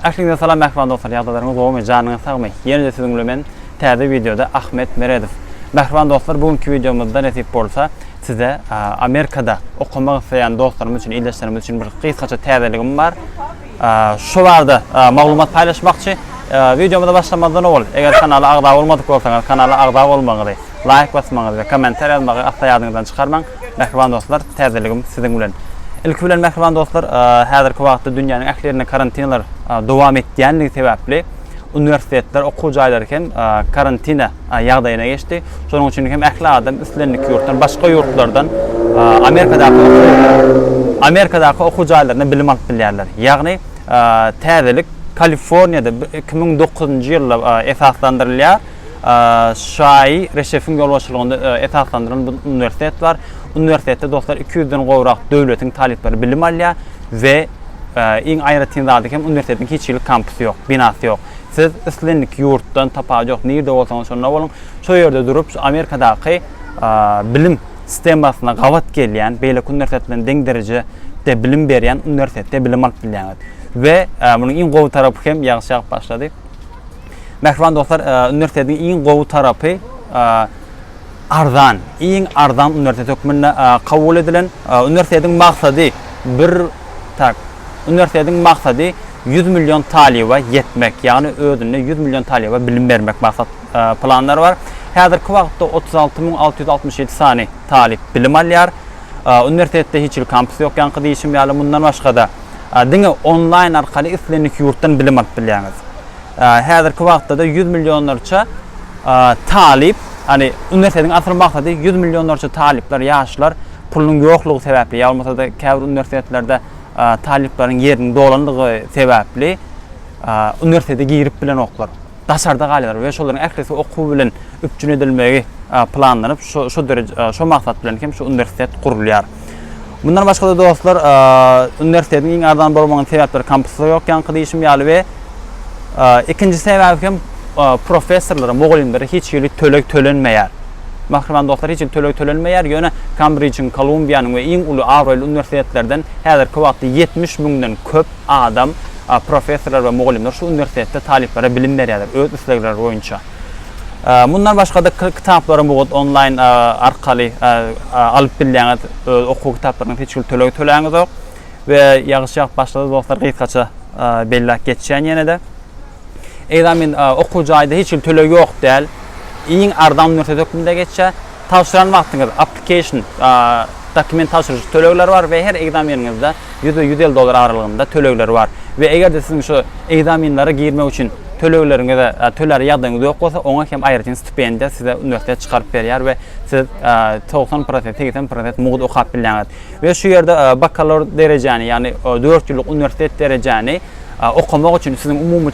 Ähliňize salam mähriban dostlar ýagdaýlaryňyz gowumy janyňyz sagmy ýene-de siziň bilen men täze wideoda Ahmet Meredow Mähriban dostlar bu günki wideomyzda nesip bolsa size Amerikada okamak isleýän dostlarymyz üçin ildeşlerimiz üçin bir gysgaça täzeligim bar şo barada maglumat paýlaşmakçy wideomyza başlamazdan owal eger kanala agza bolmadyk bolsaňyz kanala agza bolmagyňyzy laýk basmagyňyzy we kommentariýa ýazmagy asla ýadyňyzdan çykarmaň Mähriban dostlar, täzeligim siziň bilen. Ilki bilen mähriban dostlar, häzirki wagtda dünýäniň ähli ýerinde karantinler dowam etýändigi sebäpli, uniwersitetler, okuw jaýlary hem karantina ýagdaýyna geçdi. Şonuň üçin hem ähli adam islendik ýurtdan, başga ýurtlardan Amerikadaky Amerikadaky okuw jaýlarynda bilim alyp bilýärler. Ýagny täzelik Kaliforniýada iki müň dokuzynjy ýylda esaslandyrylýar. Şaýy Reşefiň ýolbaşçylygynda esaslandyrylan bu uniwersitet bar. Uniwersitetde dostlar iki ýüzden gowrak döwletiň talyplary bilim alýar we iň aýratyn zady hem uniwersitetiň hiç hili kampusy ýok, binasy ýok. Siz islendik ýurtdan, tapawudy ýok, nirde bolsaňyz şonda boluň, şo ýerde durup şu Amerikadaky bilim sistemasyna gabat gelýän, beýleki uniwersitet bilen deň derejede bilim berýän uniwersitetde bilim alyp bilýäňiz. We munuň iň gowy tarapy hem ýagşy ýagyp başlady. Mähriban dostlar, uniwersitetiň iň gowy tarapy arzan. Iň arzan uniwersitet hökmünde kabul edilen. Uniwersitetiň maksady bir tak uniwersitetiň maksady 100 million talyba ýetmek, ýagny özünde 100 million talyba bilim bermek maksat planlary bar. Häzirki wagtda 36 müň 667 sany talyp bilim alýar. Uniwersitetde hiç hili kampus ýok, ýaňky diýişim ýaly. Mundan başga-da, Diňe onlaýn arkaly islendik ýurtdan bilim alyp bilýäňiz. Häzirki wagtda-da ýüz millionlarça talyp, ýagny uniwersitetiň asyl maksady ýüz millionlarça talyplar, ýaşlar pulunyň ýoklugy sebäpli ýa bolmasa-da käbir uniwersitetlerde talyplaryň ýeriniň dolandygy sebäpli uniwersitete girip bilenoklar. Daşarda galýarlar we şolaryň ählisi okuw bilen üpjün edilmegi planlanyp, şo dereje, şo maksat bilen hem şu uniwersitet gurulýar. Mundan başga-da dostlar, uniwersitetiň iň arzan bolmagynyň sebäpleri kampusda ýok ýaňky diýişim ýaly we ikinji sebäbi hem professorlara, mugallymlara hiç hili töleg tölenmeýär. Mähriban dostlar, hiç hili töleg tölenmeýär, ýöne Kambrijiň, Kolumbiýanyň we iň uly abraýly uniwersitetlerden häzirki wagtda ýetmiş müňden köp adam, professorlar we mugallymlar şu uniwersitetde talyplara bilim berýärler, öz islegleri boýunça. Mundan başga-da kitaplary mugt onlaýn arkaly alyp bilýäňiz, öz okuw kitaplaryňyz hiç hili tölegi töläňizok we ýagyşýap başlady dostlar gysgaça belläp geçýän ýene-de. Ekzamen okuw jaýda hiç hili tölegi ýok däl, iň arzan uniwersitet hökmünde geçýär. Tabşyran wagtyňyz, application, dokument tabşyryjy tölegleri bar we her ekzameniňizde ýüz we ýüz elli dollar aralygynda tölegleri bar we eger-de siziň şu ekzamenlere girmek üçin tölegleriňize tölär ýagdaýyňyz ýok bolsa, oňa hem aýratyn stipendiýa size uniwersitet çykaryp berýär we siz togsan prosent, segsen prosent mugt okap bilýäňiz we şu ýerde bakalawr derejäni, ýagny dört ýyllyk uniwersitet derejäni okamak üçin siziň umumy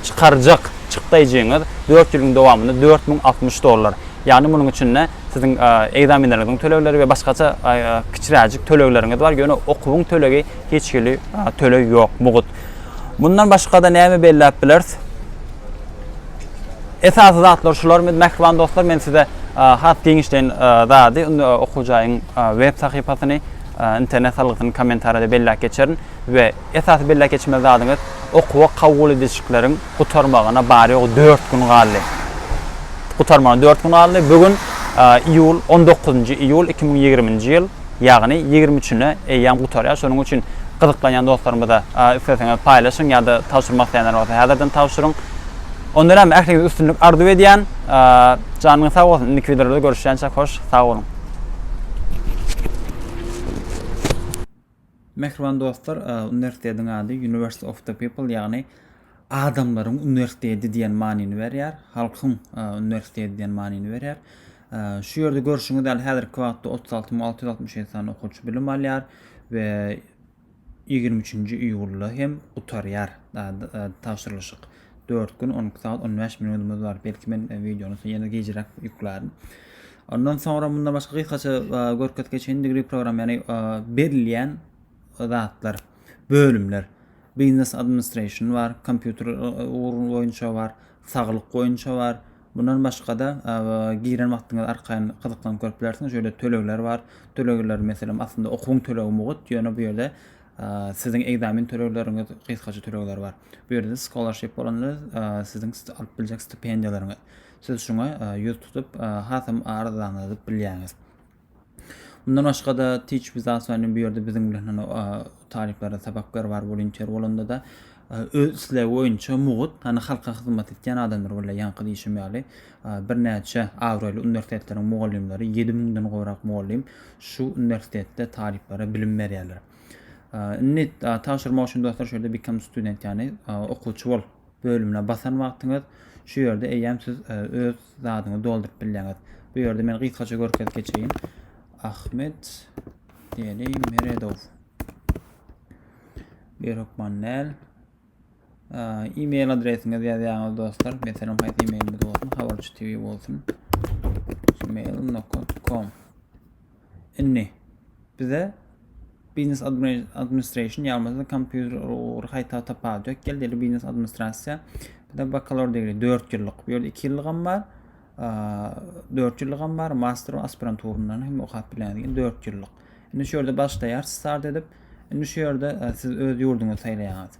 çykarjak. Çykdaýjyňyz dört ýylyň dowamynda dört müň altmyş dollar, ýagny munuň içinde siziň ekzamenleriňiziň tölegleri we başgaça kiçiräjik tölegleriňiz bar, ýöne okuwyň tölegi hiç hili töleg ýok, mugt. Mundan başga-da näme belläp bileris? Esasy zatlar şular. Mähriban dostlar, men size has giňişleýin zady, okuw jaýyň web sahypasyny, internet salgysyny kommentariýada belläp geçerin. We esasy belläp geçmeli zadyňyz, okuwa kabul edişikleriň gutarmagyna bary-ýogy dört gün galdy. Gutarmagyna dört gün galdy. Bu gün iýul, on dokuzynjy iýul iki müň ýigriminji ýyl, ýagny ýigrimi üçüne eýýäm gutarýar. Şonuň üçin gyzyklanýan dostlarymyza isleseňiz paýlaşyň ýa-da tabşyrmak isleýänler bolsa häzirden tabşyryň. Onda näme, ähliňize üstünlik arzuw edýän. Janyňyz sag bolsun, indiki wideolarda görüşýänçäk hoş, sag boluň! Mähriban dostlar, uniwersitetiň ady University of the People, ýagny adamlaryň uniwersiteti diýen manyny berýär, halkyň uniwersiteti diýen manyny berýär. Şu ýerde görşüňiz ýaly häzirki wagtda otuz alty müň alty ýüz altmyş ýedi sany okuwçy bilim alýar we ýigrimi üçünji iýulda hem gutarýar tabşyrylyşyk. Dört gün on iki sagat on bäş minudumyz bar. Belki men e, videony ýene gijräk ýüklärin. Ondan soňra mundan başga gysgaça e, görkezip geçen degree program, ýagny e, berilýän zatlar, bölümler. Business administration bar, kompýuter e, ugry boýunça bar, saglyk boýunça bar. Bundan başga-da giren wagtyňyz arkaýyn gyzyklanyp görüp bilersiňiz. Şöyle tölegler bar. Tölegler meselem aslynda okuwyň tölegi mugut, ýöne bu ýerde Siziň ekzamen tölegleriňiz, gysgaça tölegler bar. Bu ýerde scholarship bolanda siziň alyp biljek stipendiýalaryňyz. Siz şuňa ýüz tutup, hasam arzany alyp bilýäňiz. Mundan başga-da Teach with Us bu ýerde biziň bilen talyplara sapak ber bar, volunteer bolanda-da Öz islegi boýunça mugt, hany halka hyzmat etýän adamlar bolýar, ýaňky diýşim ýaly, birnäçe abraýly uniwersitetleriň mugallymlary, ýedi müňden gowrak mugallym şu uniwersitetde talyplara bilim berýärler. Indi tabşyrmak üçin dostlar şu ýerde Become Student ýagny Okuwçy bol bölümine basan wagtyňyz şu ýerde eýýäm siz öz zadyňyzy dolduryp bilýäňiz. Bu ýerde men gysgaça görkezip geçeýin. Ahmet Deli Meredow. Bir hökman näl. E-mail adresiňiz ýazýaňyz dostlar. Meselem, haýsy e-mailimiz bolsun? Habarçy TV bolsun. gmail.com Indi bize Business Administration ýalmazda kompýuter ugry haýta tapawut ýok geldi. Business Administrasiýa bize bakalavr degri 4 ýyllyk. Bu ýerde 2 ýyllygam bar. 4 ýyllygam bar, master we aspiranturyndan hem okap bilersiň, 4 ýyllyk. Indi şu ýerde başlaýarys start edip. Indi şu ýerde e, siz öz ýurduňyzy saýlaýaňyz.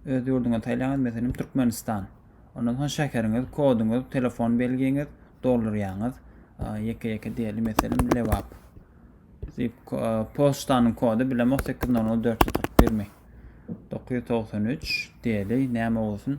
Öz ýurduňyzy saýlaýaňyz, meselem Türkmenistan. Ondan soň şäheriňiz, koduňyz, telefon belgiňiz doldurýaňyz. Ýeke-ýeke diýeli, meselem Lebap. E, poçtanyň kody bilemok 800 441 mi? 993 diýeli, näme bolsun?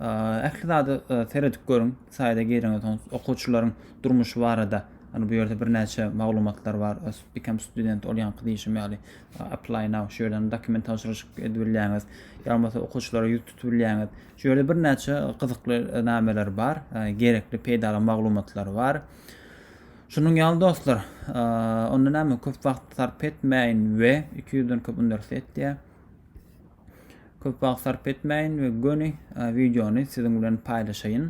Ähli zada seredip görüň. Saýda gireňiz, soň okuwçylaryň durmuşy barada Hani bu ýerde birnäçe maglumatlar bar. Become student ol ýaňky diýişim ýaly apply now şu ýerden dokument tabşyryşyk edip bilýäňiz. Ýa bolmasa okuwçylara ýüz tutup bilýäňiz. Şu ýerde birnäçe gyzykly nameler bar, gerekli peýdaly maglumatlar bar. Şunuň ýaly dostlar, onda näme köp wagt sarp etmäýin we 200-den köp uniwersitet diýýär. Köp wagt sarp etmäýin we göni wideony siziň bilen paýlaşaýyn.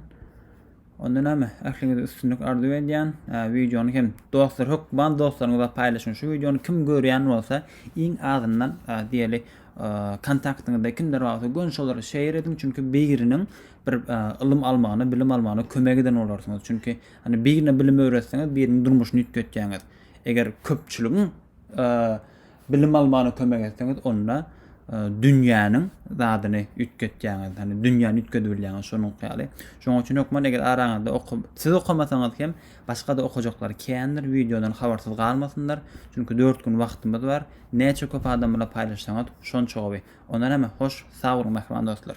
Onda näme? Ähliňize üstünlik arzuw edýän. Wideony hem dostlar hökman dostlaryňyza paýlaşyň. Şu wideony kim görýän bolsa, iň azyndan diýeli kontaktyňyzda kimler bolsa gön şolara şeýer ediň. Çünki biriniň bir ylym almagyna, bilim almagyna kömek eden bolarsyňyz. Çünki hani birine bilim öwretseňiz, biriniň durmuşyny üýtgetýäňiz. Eger köpçüligiň Bilim almana kömek etseňiz onda dünýäniň zadyny üýtgetýäňiz. Hani dünýäni üýtgedibilýäňiz şonuň ýaly. Şonuň üçin hökman eger araňyzda oku siz okamasaňyz hem başga-da okujaklar kändir, wideodan habarsyz galmasynlar. Çünki 4 gün wagtymyz bar. Näçe köp adam bilen paýlaşsaňyz şonça gowy. Ondan hem hoş, sag boluň mähriban dostlar.